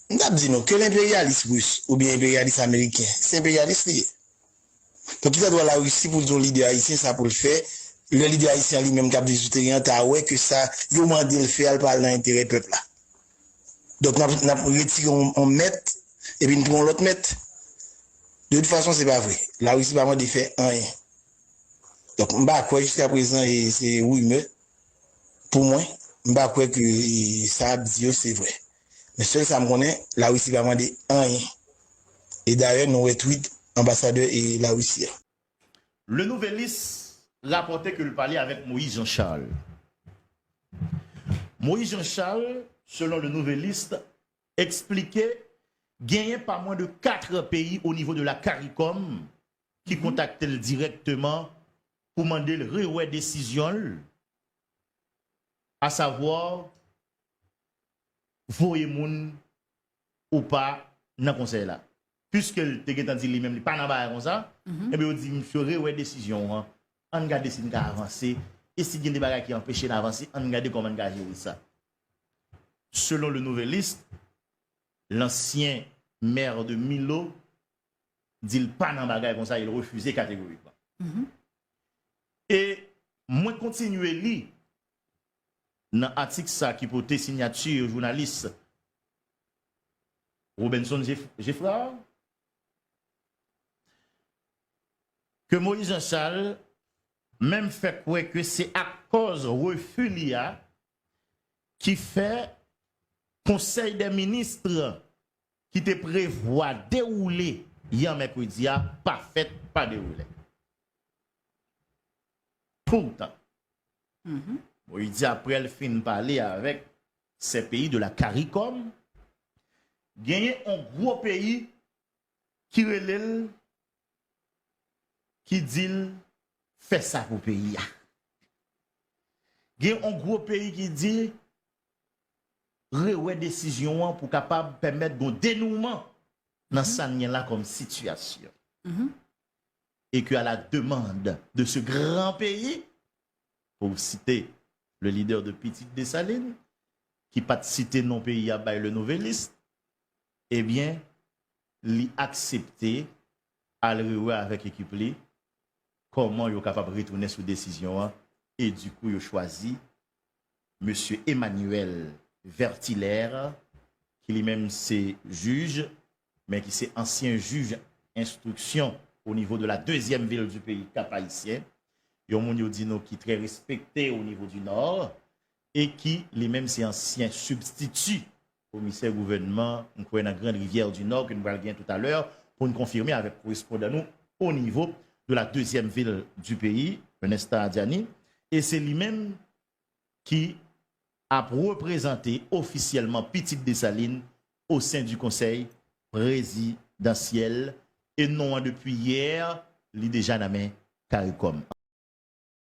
M t ap di nou, ke l enperyalis ris oubyen enperyalis ameriken, se enperyalis li ye. Donk ki sa dwa Larisi pou l di yon lidè ayisyen sa pou l fè, lè lidè ayisyen an li menm k ap viv sou teren an ta wè ke sa yo mande l fè a l pa al nan enterè pèp la. Donk n ap n ap retire yon mèt epi n pran yon lòt mèt. De tout fason se pa vre. Larisi pa mande fè anyen. Donk m pa kwè jiskaprezan e se rimè. Pou mwen, m pa kwè ke sa yap di yo se vrè. Men sèl sa m konnen, La Risi pa mande anyen. E dayè nou wè tweet anbasadè La Risi a. Le Nouvelliste rapòte ke l pale avèk Moïse Jean Charles. Moïse Jean Charles, selon Le Nouvelliste, eksplike genyen pa mwen de 4 peyi o nivo de la Caricom ki kontakte l dirèkteman pou mande l rewè desizyon l asavwa voye moun ou pa nan konsèy la. Piske l te gentan di li menm li pa nan bagay konsa, enben yo di misye rewè desizyon ou an, an n gade si n ka avanse e si gen de bagay ki anpeche n avanse an n gade kòman n ka jere sa. Selon Le Nouvelliste, lansyen maire de Milo di l pa nan bagay konsa e l refize kategorikman. E mwen kontinye li nan atik sa ki pote sinyati jounalis Robinson Geffrard ke Moïse Jean Charles menm fè kwè ke se akòz refi li a ki fè konsèy dè minis ki te prevwa dewoule yè mèkredi a pa fèt pa dewoule. Poutan, Moïse di aprè l fin pale avèk sè peyi de la caricom, genyen on gwo peyi ki rele l ki di l fè sa pou peyi a. Gen on gwo peyi ki di rewè desizyon an pou kapab pèmèt gon denouman nan sa n gen la kòm sitiyasyon. E ke a la demand de se gran peyi, pou site le lidè de pitit Desalin, ki pa t site non peyi a bay le Nouvelliste, e byen li aksepte al rewè avèk ekip li Kòman yo kapab retounen sou desizyon an e di kou yo chwazi Mesye Emmanuel Vertilaire ki li menm se jij men ki se ansyen jij enstriksyon o nivo de la dezyèm vil di peyi Kap Ayisyen, yon moun yo di nou ki trè respekte o nivo di Nò e ki li menm se ansyen sibstiti Komisè gouvènman m kwè nan Grande Rivière du Nord ke nou pral gen tout a lè pou n konfime avèk korespondan nou o nivo de la dezyèm vil di peyi Renesta Adiani e se li menm ki ap reprezante ofisyèlman pitit Desalin o sen di konsèy prezidansyèl e non an depi yè li deja nan men caricom.